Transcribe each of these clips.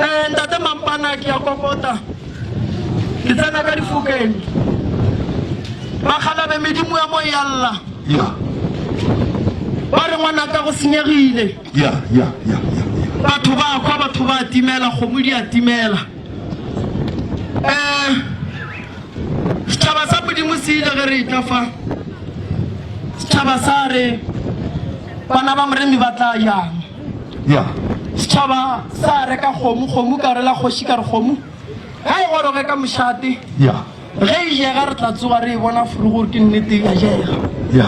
Eh, ntate mampana ke ya kokota ke tsena ka difokeng bakgalabe medimo ya mo ya lla ba re ngwana ka go senyegile batho ba kwa batho ba timela kgomo di a timela um eh, setšhaba sa modimo se ile ge re etla fa setšhaba sa re bana ba moremi ba tla yang ya setšhaba sa reka kgomo kgomo ka rela kgoši ka re kgomo ga e goroge ka mošate ya ge e jega re tla tsoga re e bona furu gore ke nnete ya jega ya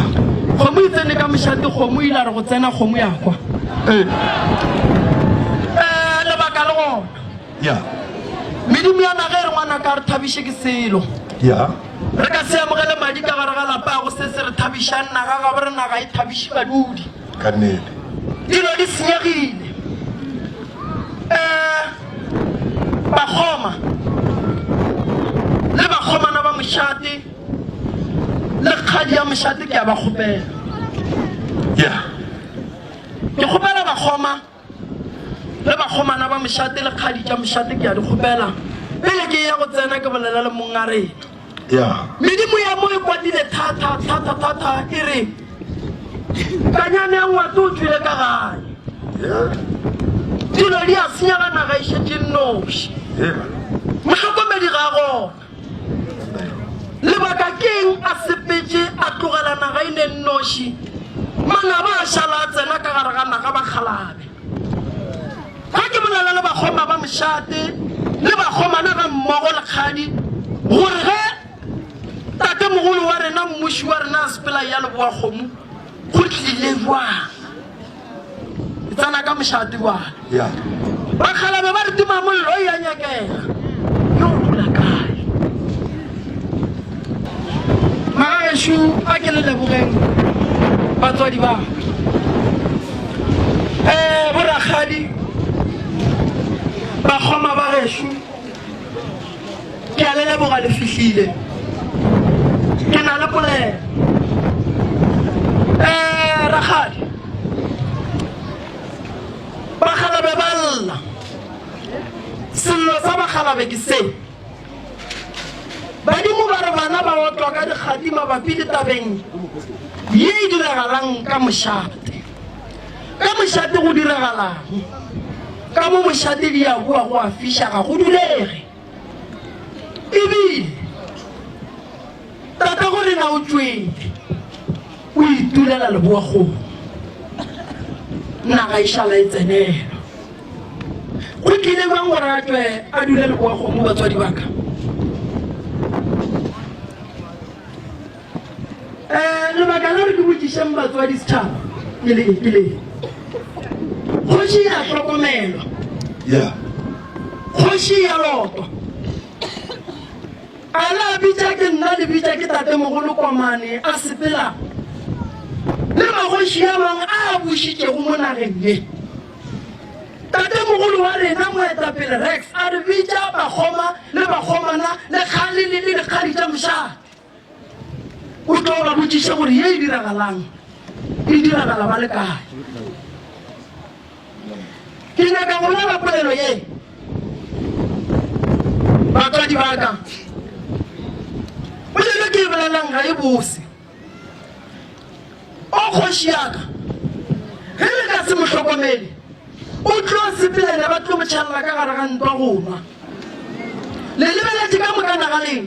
kgomo e tsene ka mošate kgomo ile re go tsena kgomo ya kwa ee eh, lebaka le gona ya medimo ya naga e re ngwana ka re thabiše ke selo ya re ka se amogele madi ka gare ga lapa go se se re thabišang naga ga bo re naga e thabiše badudi ka nnete. Dilo di senyegile. Ee, bakgoma le bakgomana ba mošate le kgadi ya mošate ke a ba kgopela. Yeah. Ke kgopela bakgoma. Ge bakgomana ba mošate le kgadi tša mošate, ke a di kgopela, pele ke eya go tsena, ke bolela le Monna rena. Medimo ya mo e kwatile thata, thata, thata, e re, Kanyane ya ngwate o tšwile ka gae. Dilo di a senyega, naga e šetše nnoši. Mohlokomedi ga a gona. Lebaka ke'ng a sepetše a tlogela naga e ne nnoši? Manaba a šala a tsena ka gare ga naga bakgalabe. Ga ke bolela le bakgoma ba mošate le bakgomana ga mmogo le kgadi gore ge tatemogolo wa rena mmuši wa rena a sepela ya leboa kgomo go tlile bjang. Ke tsena ka mošate bjale. Bakgalabje ba re timamollo e a nyakega. Yo o dula kae? Magagešu a ke le lebogeng batswadi ba ka. Ee, borakgadi, bakgoma ba gešu. Ke a le leboga le fihlile. Ke na le polelo. Eh, rakgadi. Bakgalabe ba lla. Sello sa bakgalabe ke se. Badimo ba re bana ba otlwa ka dikgadi mabapi le tabeng ye e diragalang ka mošate. Ka mošate go diragalago, ka mo mošate di ya hua go a fiša ga go dulege. Ebile tata go rena o tšwele o itulela leboagong, naga e šala e tsenelwa. Go tlile bjang gore a tšwe a dule leboagong mo batswadi ba ka? um lebaka la re ke botšišeng batswadi setšhaba ke le ke le kgoši ya hlokomelwa ya kgoši ya lotwa a la bitša ke nna le bitša ke tatemogolo komane a sepela le magoši ya mang a bušitšego mo nageng ye tatemogolo wa rena moetapele rex a re bitša bakgoma le bakgomana le kgale le le dikgadi tša mošate o tlo ba botšiša gore ye e diragalang e diragala ba le kae ke nyaka go lela polelo ye batswadi ba ka polelo ke e bolelang ga e bose o kgoši yaka ge le ka se mo hlokomele o tlo sepelele ba tlo motšhalela ka gare ga ntwa go nwa le lebeletse ka moka nagaleng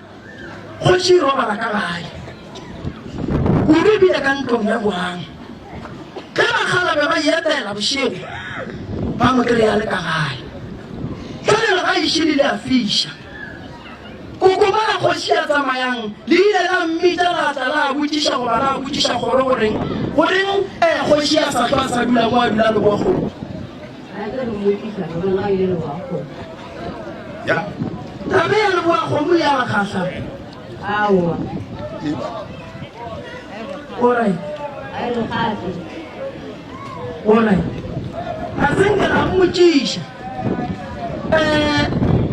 Kgoši e robala ka gae. Kudu ebile ka ntlong ya boang. Ge bakgala be ba yetela bošego, ba mo kry-a le ka gae. Fale le ga išili le a fiša. Kokoma la kgoši ya tsamayang le ile la mmitša la tla la botšiša goba la botšiša kgoro goreng goreng eh kgoši ya sa hlwa a sa dula mo a dula le boakgolo. Ya. Taba ya leboa kgomo ya ba kgahla. Aowa. Ore. A re gape. Ore. A se nke ra mmotšiša. Eh,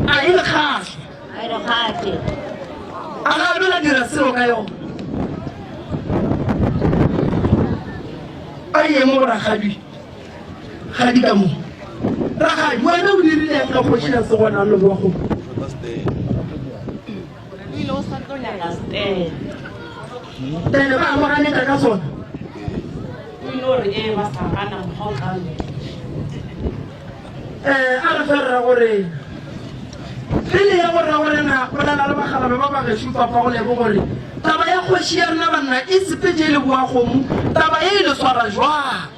a e re kgahla. A re gape. A ga bela dira seo ka yona. A ye mo rakgadi. ga di ka mo ragadi wena o dirileng ka kgoši ya segona le bogo tene ba amoganeka ka sona um a re ferra gore pele ya go ra gore na o lala le bagalabe ba ba gešo papa go lebo gore taba ya kgoši ya rena banna e sepetse e le boagomo taba e e le swara jwang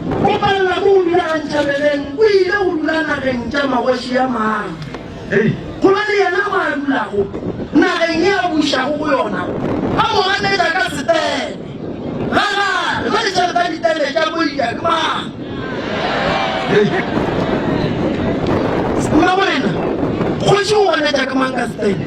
Go palela go go dula gantša meleng, o ile go dula nageng tša magoši a mang? Go na le yena mo a dulago, nageng ye a bušago go yona, a mo ganetša ka setele. Ga gale, ba letša le ba ditele tša boika ke mang? Mmamorena, kgoši o ganetša ke mang ka setele?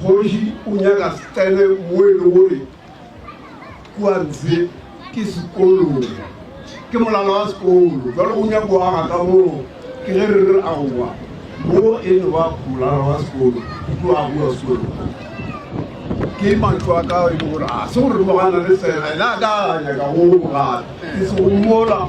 Kgoši o nyaka re tsene mo e le gore kua ntshe ke sekolong, ke molala wa sekolo. Jalo o nyaka go aga ka moo, ke ge re re aowa, mo e no ba molala wa sekolo, go tlo agiwa sekolo. Ke matlo a ka e le gore a se gore mogana le fela ene a ka nyaka go gape ke se go mola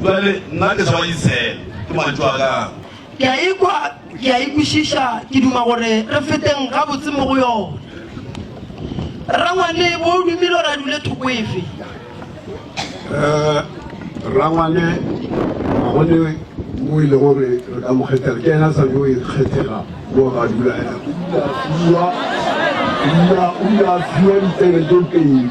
Bjale nna ke sa ba Isele, ke mantšu a ka. Ke a e kwa, ke a e kwešiša, ke duma gore re feteng gabotse mo go yona. Rrangwane, bo o dumile gore a dule thoko efe? Eh, Rrangwane, ga go ne mo e le gore re ka mo kgethela, ke ena sa yo e kgethega mo ga dula ena. O ile a fiwa, o ile a fiwa ditsebe tse pedi.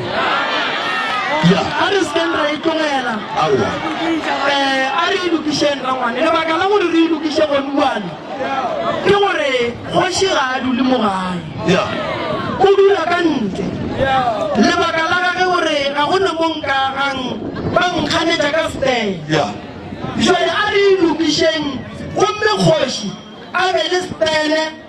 ya a re sekeng ra itlogela aowa um a re ilokišeng rangwane lebaka la gore re ilokiše gonuane ke gore kgoši ga a dule mo gae ya o dula ka ntle lebaka la gage gore ga go ne mo nka gang ba nkganetša ka stele ya jale a re ilokišeng gomme kgoši a be le stele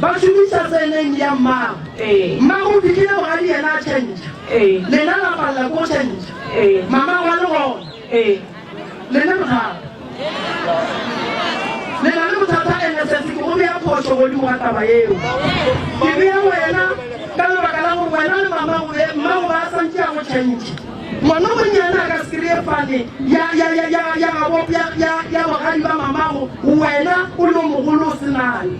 Ba šomiša tseleng ya mmago. Mmago o fihlile bogadi yena a tšhentšha. Lena la palela ko tšhentšha. Mamago a le gona. Le ne bothata. Le na le bothata ene sesi ke go bea phošo godimo ga taba yeo. Ke bea wena ka lebaka la gore wena le mamago be mmago ba santše a go tšhentšha. Ngwana o monnyane a ka se kry-e fane ya ya ya ya ya gabo ya ya ya bogadi ba mamago wena o le o mogolo o se nayo.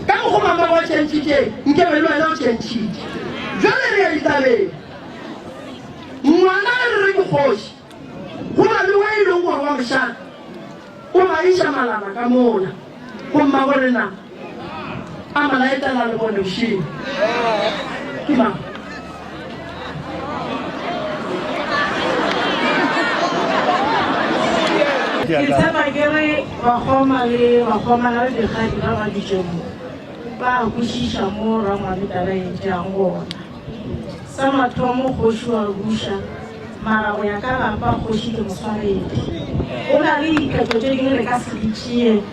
Ka mokgwa mama wa tšhentšhitšeng, nke be le wena o tšhentšhitše. Bjale re ya ditabeng. Ngwana a re re ke kgoši. Go na le wa e lego gore wa mošana, o ba iša malaba ka mola go mmagorena, a mo laetela le bone bošego. Ke mang? Ke tshepa ke re bakgoma le bakgomana le dikgadi ba ba dutšeng mo ba a kwešiša mo Rangwane taba e tšeang gona. Sa mathomo kgoši wa buša, mara go ya ka lapa kgoši ke moswaredi. Go na le diphetho tše dingwe re ka se di tšee.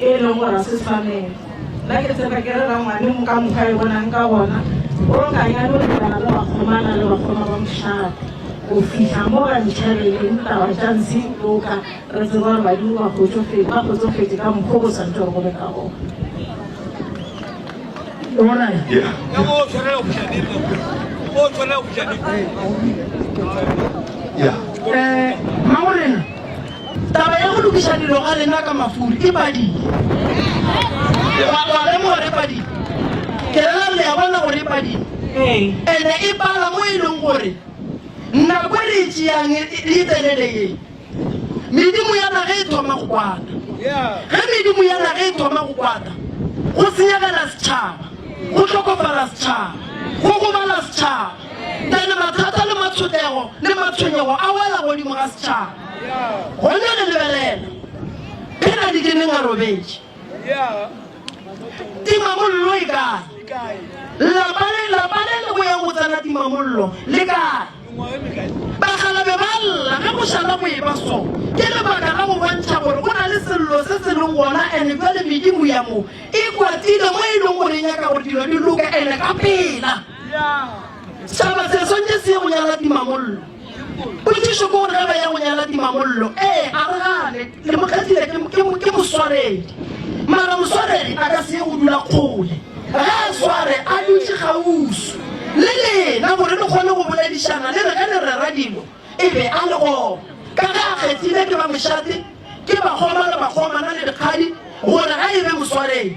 e lego gore ga se tshwanelo. Nna ke tshepa ke re rangwane mo ka mokgwa e bonang ka gona, o ka ya no lebana le bakgomana le bakgoma ba mošate go fihla mo ba ntšhabeleng taba tša ntshe loka re tseba gore badimo ba kgotsofetse ba kgotsofetse ka mokgwa go santse gore go be ka gona. Alright. Yeah. Yeah. Eh, Maureen. Taba ya go lokiša dilo ga rena ka mafuri ke padile. Wa wa lemoga re padile. Ke rela le ya bona gore e padile. Ee. Ene e pala mo e leng gore nako e re e tšeang e e telele ye. Medimo ya naga e thoma go kwata. Ge medimo ya naga e thoma go kwata, go senyegela setšhaba, go hlokofala setšhaba, go gobala setšhaba. Pele mathata le matshotego le matshwenyego a wela godimo ga setšhaba, gona re lebelela phena di keneng a robetše. Timamollo e kae? Lapa le lapa le le go ya go tsena timamollo le kae? Bakgalabe ba lla ge go šala go eba so. Ke lebaka la go bontšha gore go na le sello se se leng gona ene bjale medimo ya mo e kwatile mo e leng gore e nyaka gore dilo di loke ene ka pela. Setšhaba se swanetše se ye go nyala timamollo. Potšišo ke gore ge ba ya go nyala timamollo, ee, a re gane le mo kgethile ke, ke, ke moswaredi. Mara moswaredi a ka se ye go dula kgole. Ge a sware, a dutše kgauswi le lena gore le kgone go boledišana le re ge le rera dilo e be a le gona. Ka ge a kgethile ke ba mošate, ke bakgoma le bakgomana le dikgadi gore a e be moswaredi.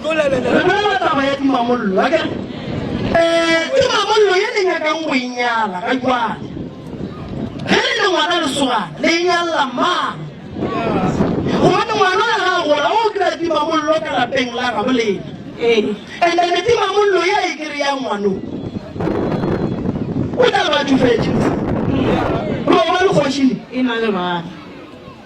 Re bolela taba ya tumamollo, akere? Ee, tumamollo ye le nyakang go e nyala ga jwale. Ge le le ngwana lesogana, le e nyalela mang? Gobane ngwana ga a gola, o kry-a tumamollo ka lapeng la gabo lena. Ee. And then tumamollo ye a e kry-a ngwano, o tla ba tšofetše. Lo ba le kgoši le. E na le bana.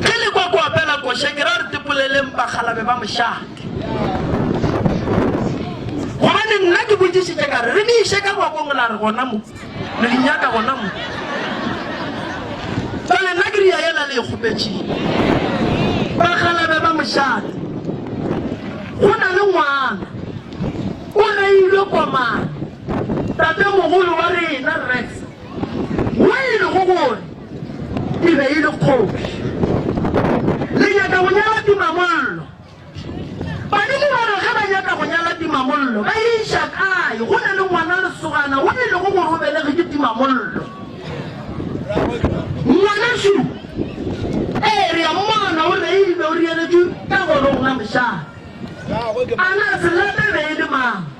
Re le kwa ko apela koša ke ra re tipoleleng bakgalabe ba mošate. Gobane nna ke botšišitše ka re, Re le iše ka ngwakong la re gona mo? Le le nyaka gona mo? Bjale nna ke ria yela le e kgopetšego. Bakgalabe ba mošate, go na le ngwana o reilwe kwa mane, tatemogolo wa rena Rex Mo e lego gore e be e le kgoši. Le nyaka go nyala tumamollo? Badimo ba re ge ba nyaka go nyala tumamollo, ba e iša kae? Go na le ngwana lesogana wo e lego gore o belege ke tumamollo. Ngwanešu, ee, re a mmona o reilwe, o reeletšwe ka go rona mošana. A na se late e be e le mang?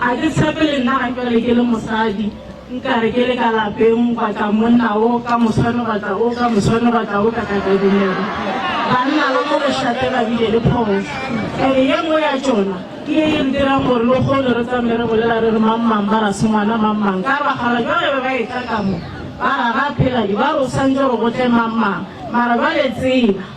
A ke tshepe le nna ga jale ke le mosadi nka re ke le ka lapeng gwa tla monna o ka moswane gwa tla o ka moswane gwa tla o ka ka ka dumela banna ba mo bošate ba bile le phoso ene ye nngwe ya tšona ke ye e re dirang gore lo kgone re tsamaye re bolela re re mang mang ba ra sengwana mang mang ka ba gala jwale ba ba e tla ka mo ba ra ga pheladi ba re o santse re gotle mang mang mara jwale tseba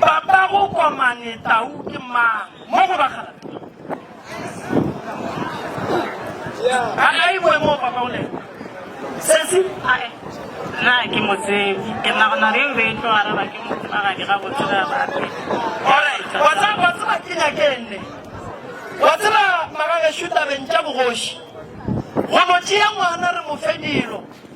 Papa go komane tau ke mang mo go bagala a a e boe mo papa o le sesi a e na ke mo tsebe ke na go na re be tlo ara ba ke mo ba ga dira go tsira ba ke ore go tsa go tsa ba ke nya ke nne go tsira magage shuta bentja bogoshi go mo tšea ngwana re mo fedilo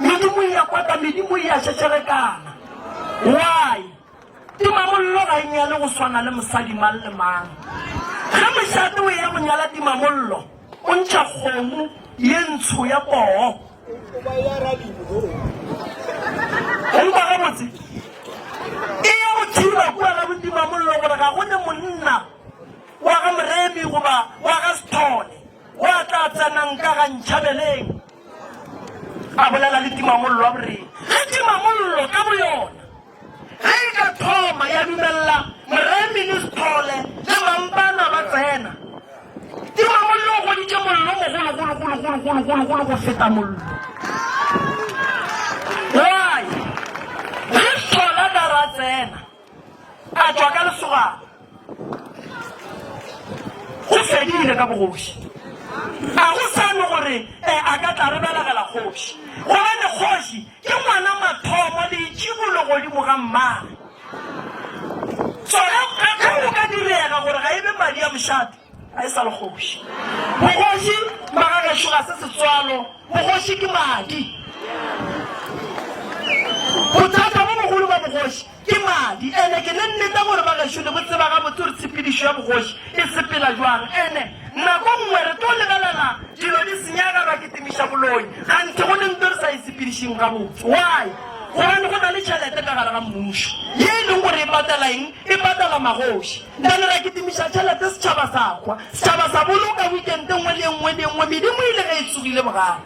Medimo e ya kwata, medimo e ya šešerekana. Why? Timamollo ga e nyale go swana le mosadi mang le mang. Ge mošate o eya go nyala timamollo, o ntšha kgomo ye ntsho ya poo. O nkwa gabotse? E ya go tšhiba kua ga botimamollo gore ga go ne monna wa ga Moremi goba wa ga Sethole wa tla tsenang ka ga ntšhabeleng. a bolela le timamollo a boreng ge timamollo ka boyona ge e ka thoma ya dumelela moreministole le mampana ba tsena timamollo o goditše mollo mogologologologologologolo go feta mollo why ge hlola ka ra tsena a tšwa ka lesoga go fedile ka bogoši ga go sane gore eh, a ka tla re belegela kgoši gobane kgoši ke ngwana mathomo leitšibolo godimo ga mmage tsona ge go ka direga gore ga e be madi a mošate Ga e sa le kgoši. Bogoši ba ga gešo ga se setswalo, bogoši ke madi. Bothata bo bogolo ba bogoši ke madi. Ene ke ne nnete gore ba gešo le botseba gabotse gore tshepedišo ya bogoši e sepela jwang. Ene nako nngwe re tlo lebelela dilo di senyega ra kitimiša boloi kganthe go le nto re sa e sepedišeng gabotse. Why? Gobane go na le tšhelete ka gare ga mmušo ye e leng gore e patela eng? E patela magoši. Bjale ra kitimiša tšhelete, setšhaba sa hwa, setšhaba sa boloka wikente nngwe le ye nngwe le ye nngwe, medimo e ile ge e tsogile bogale.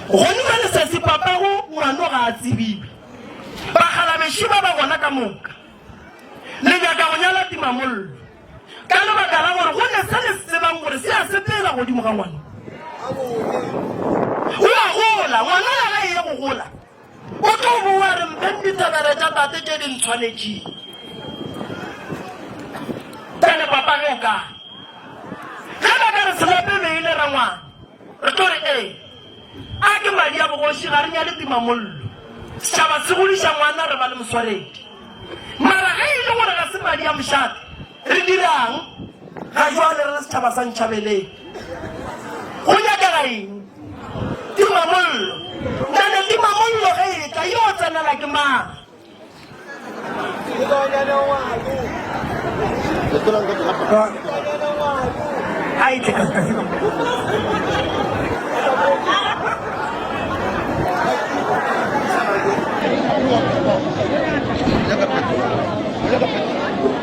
Gone bjale se se papago ngwano ga a tsebiwe. Bakgalabešo ba ba gona ka moka le nyaka go nyala timamollo ka lebaka la gore go ne se le se tsebang gore se a sepela godimo ga ngwano. O a gola, ngwano ya gae ye go gola. O tlo boa re mpeng ditsebele tša tate tše di ntshwanetšing. Tane papa ge o ka ge ba ka re selape be e le rangwana re tlo re ee a ke madi a bogoši ga re nyale timamollo setšhaba se godiša ngwana re ba le moswaredi mara ge e le gore ga se madi a mošate Re dirang ga jwale re le setšhaba sa Ntšhabeleng? Go nyakega eng? Timamollo. Nane timamollo ge e tla, yo tsenela ke mang? A e tle ka seka seka. Thank you.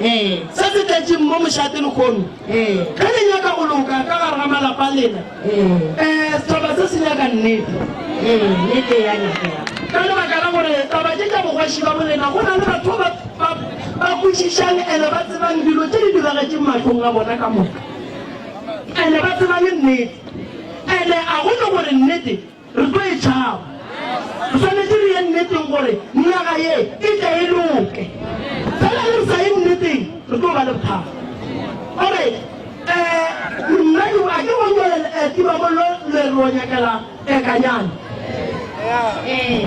Ee. Se se tletšeng mo mošate lehono. Ee. Ge le nyaka go loka ka gare ga malapa a lena. Ee. Ee, setšhaba se se nyaka nnete. Ee, nnete e a nyakega. Ka lebaka la gore taba tše tša bogoši ba bolena, go na le batho ba ba ba kwešišang ene ba tsebang dilo tše di diragetšeng mahlong a bona ka moka. Ene ba tseba le nnete. Ene a go ne gore nnete Re tlo e tšhaba. Re swanetše re ye nneteng gore naga ye e tle e loke. Fela ge re sa ye nneteng, re tlo ba le bothata. Alright, um, monna yo a ke go nyole le eh, tima mollo le re o nyakela eh, kanyana. Eh.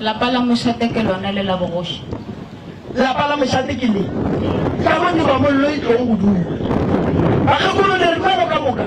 Lapa la mošate ke lona le la bogoši. Lapa la mošate ke le ka mo tirwamollo e tlogo go dula. Bakgekolo le ripelo ka moka.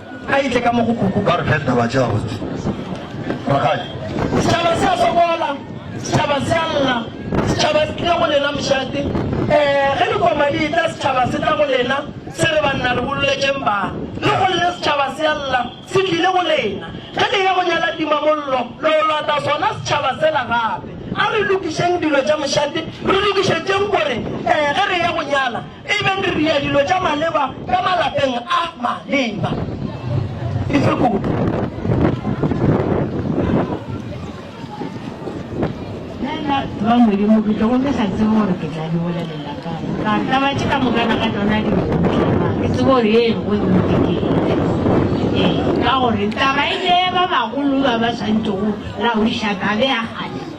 A itle ka mo go kuku ba re pheta ba tšea botse. Rakgadi. Setšhaba se a sokola, setšhaba se a lla, setšhaba se tlile go lena mošate. Eh, ge dikoma di etla setšhaba se tla go lena, se re banna re bololetšeng bana. Le go lle setšhaba se a lla, se tlile go lena. Ge le ya go nyala timamollo, lo yo lata sona setšhaba sela gape. A re lokišeng dilo tša mošate, re lokišetšeng gore eh ge re ya go nyala, E be re ria dilo tša maleba ka malapeng a maleba. E fe kudu. Nna ba Modimo ke tlogo ke sa tsebe gore ke tla di bolelela kang. Ka taba tše ka moka na ka tšona di motla. Ke tsebe gore ye e go nnete ke ee ka gore taba e ke ba bagolo ba ba swantšego la uša tabe ya kgale.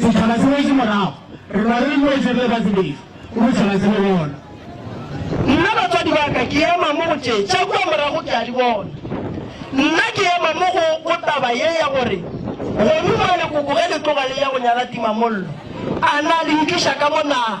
Setšhaba se wetše morago. Re lwa re le noši re le batsebetšo go bošega se le gona. Nna batswadi ba ka ke ema mo go tše tša kua morago ke a di bona. Nna ke ema mo go go taba ye ya gore gonu mola lekoko ge le tloga le ya go nyala timamollo a na le nkiša ka mo na.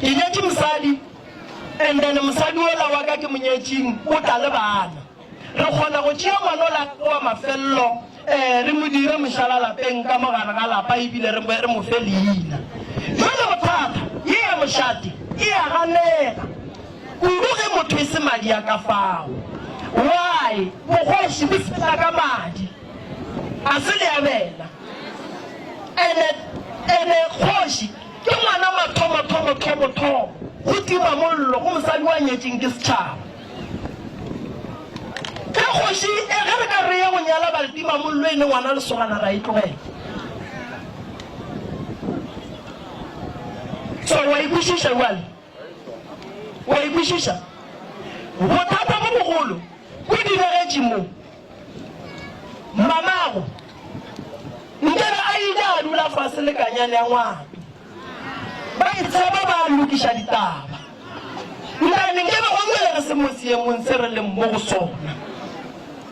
Ke nyetše mosadi, and then mosadi ola wa ka ke mo nyetšeng o tla le bana. Re kgona go tšea ngwana ola wa mafelelo um re mo dire mošala lapeng ka mo gare ga lapa ebile re re mo fe leina. Bjale bothata, ye ya mošate e ya ganega kudu ge motho e se madi a ka fao. Why? Bogoši bo sepela ka madi, a se le a bela? And-e, and-e kgoši Ke ngwana mathomothomothomothomo go tima mollo go mosadi wa nyetšeng ke setšhaba. Ge kgoši e ge re ka re ye go nyala baletima mollo e le ngwana lesogana ra e tlogela. So wa e kwešiša bjale? Wa e kwešiša? Bothata bo bogolo bo diregetše mo. Mamago nke be a ile a dula fase le kanyane ya ngwato. Ba e tsheba ba lokiša ditaba. Ntane nke be o nywelerese mo seemong se re leng mo go sona.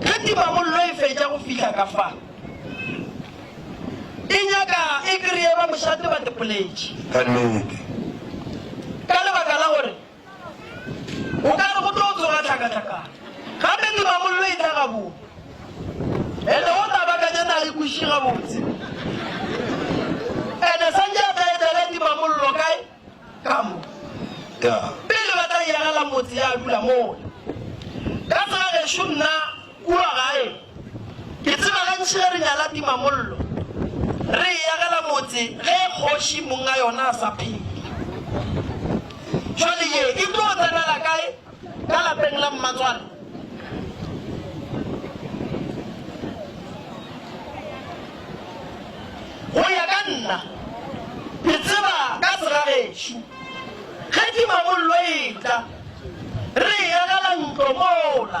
Ge timamollo e fetša go fihla ka fa, e nyaka e kreye ba mošate ba tepoletše. Ka nnete. Ka lebaka la gore o ka re go tlo tsoga tlhakatlhakano, gape timamollo e tla gabone. Ene wo tla bakanya na e kweši gabotse. Ene santše a tla etela timamollo kae? Ka mo, ka pele ba tla iragela motse ya dula mole. Ka tsela gešo nna kua gae, ke tseba gantši ge re nyala timamollo, re e yagela motse ge kgoši monga yona a sa phela. Bjale ye e tlo tsenela kae? Ka lapeng la mmatswale. Go ya ka nna, ke tseba ka segagešo. Ge timamollo e tla, re e agela ntlo mola.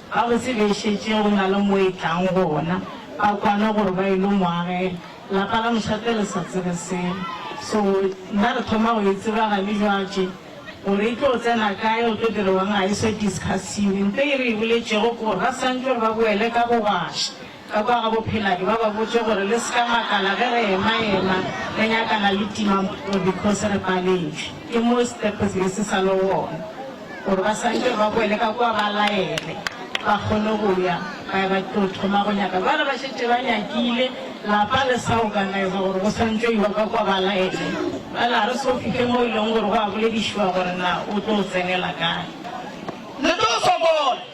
Ba go tsebišetše go na le mo e tlang gona, ba kwane gore ba ilo mo agela. Lapa la mošate le sa tsebe selo. So, nna re thoma go e tseba gane jwatše, gore e tlo tsena kae, go tlo direwang ga e so discussiwe. Nto e re e boletšego ke gore ba santšwe gore ba boele ka bogwaša. Ka kwa ga bopheladi ba ba botše gore le se ka makala ge re ema ema re nyakana le timampuo because re paletšwe ke mo step se be se sa le gona gore ba swantše ba boele ka kwa ba laele ba kgone go ya ba ya ba tlo thoma go nyaka bjale ba šetše ba nyakile lapa le sa organiza gore go swantše iwa ka kwa ba laele bjale ga re so fihle mo e leng gore go a boledišiwa gore na o tlo tsenela kae le tlo sokola.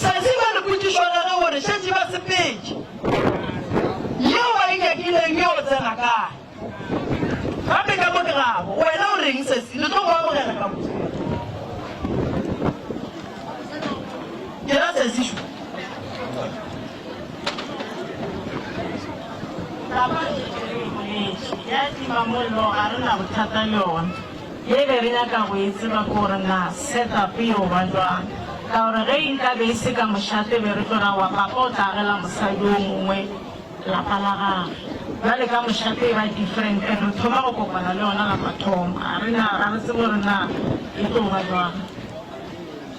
Sa tseba le potšišo ya ge gore šetše ba sepetše yeo ba e nyakileng yeo tsena kae. Gape ka mo ke gabo, wena o reng sesi, le tlo go amogela ka mo. Ke ra sesi šo. Taba e ke re e boletše ya timamollo ga re na bothata le yona. Ye be re nyaka go e tseba ke gore na setup e yo ba bjang. Ka gore ge e nka be e se ka mošate e be re tlo ra wa papa o tla agela mosadi yo mongwe lapa la gagwe. Bjale ka mošate e ba different and re thoma go kopana le yona la mathomo. Ga re na, ga re tsebe gore na e tlo ba bjang.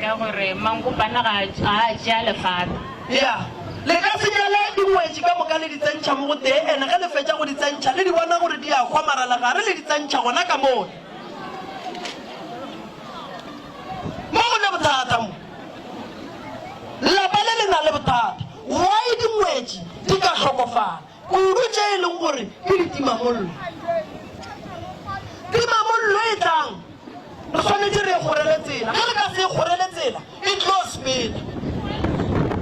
Ka gore mankopana ga a je a le fata. Ya, le ka se jale dingwetši ka moka le di tsentšha mo go tee, ene ge le fetša go di tsentšha, le di bona gore di a hwa, mara legare le di tsentšha gona ka mone. Mo go ne bothata mo. Lapa le le na le bothata. Why dingwetši di ka hlokofala? Kudu tše e lego gore ke ditimamollo. Timamollo e tlang, re swanetše re e kgorele tsela. Ge re ka se e kgorele tsela, e tlo sepela.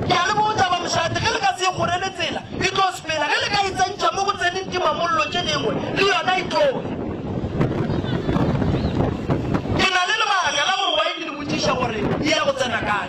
Ke a le botša bamošate, ge re ka se e kgorele tsela, e tlo sepela. Ge le ka e tsentšha mo go tseneng timamollo tše dingwe, le yona e tlo ya. Ke na le lebaka la gore waene le botšiša gore e ya go tsena kae.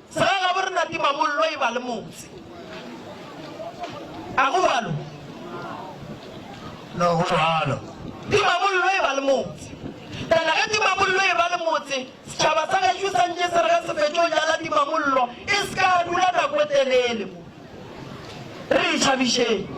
Tsela la borena tima mollo e ba le motse. A go bjalo? No, go bjalo. Tima mollo e ba le motse. Tana ge tima mollo e ba le motse, setšhaba sa gašo sa ntše se re ge se fetšo jala tima mollo e se ka dula nako e telele mo. Re e tšhabišeng.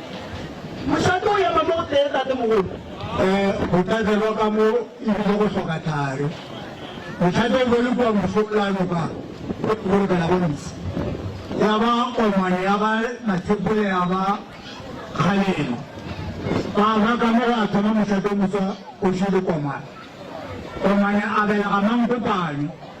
Mošate o ema mo gotee, tatemogolo. Ee, go tlatselwa ka mo e bile go hloka thari. Mošate o be o le kua bošoplano ka go lokela go ntsi. Ya ba komane ya ba Mathepole ya ba Kgalema. Ba ba ka mo gwa thoma mošate o motswa o šele komane. Komane a belega Mankopane.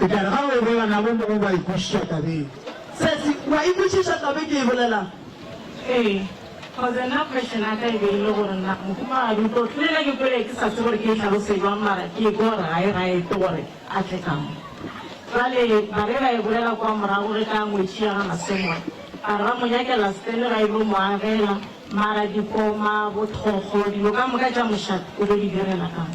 Eupša re ka go e bolela nako e nngwe wa e kwešiša tabeng. Sesi, O a e kwešiša taba e ke e bolelang? Ee, kgoze nna question ya ka e be e le gore na mohumagadi o tlo hlolela ke kwele ke sa tsebe gore ke e hlalose jwang mara ke ekwa gore ga e right gore a tle ka mo. Bjale ba be ba e bolela kwa morago ge ka ngwetši ya ga Masemola ba re ba mo nyakela stele ba e lo mo agela mara dikoma, bothokgo, dilo ka moka tša mošate o tlo di direla ka mo.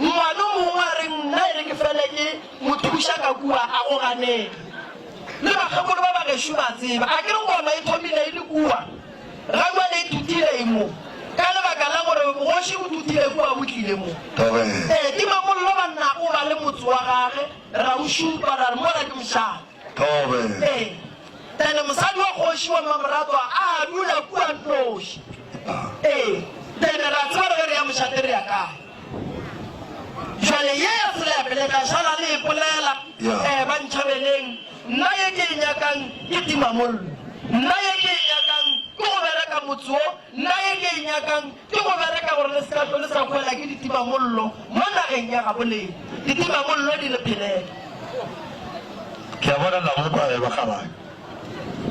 Ngwana o mongwe a re, Nna e re ke fele ke mo thuša ka kua a go ganege. Le bakgekolo ba bagešo ba tseba. A ke re koma e thomile e le kua, ga jwale e tutile e mo, ka lebaka la gore bogoši bo tutile kua bo tlile mo. Ee, tima mollo, banna, o ba le motse wa gage, ra o šupa, ra re, Mola ke mošate. Tobe. Ee, Tene mosadi wa kgoši wa Mmamoratwa a dula kua nnoši. Ee, Tene re a tseba re ge re ya mošate re ya kae. Jwale ye ya tsela ya pele ka šala le e polela, Yeah. ee, ba ntšhabeleng, nna ye ke e nyakang ke timamollo, nna ye ke e nyakang ke go bereka motse wo, nna ye ke e nyakang Ke go bereka gore le se ka hlwe le sa hwela ke ditimamollo mo nageng ya gabo lena. Ditimamollo di re phelela. Ke a bona la go kwa ge ba kgabana.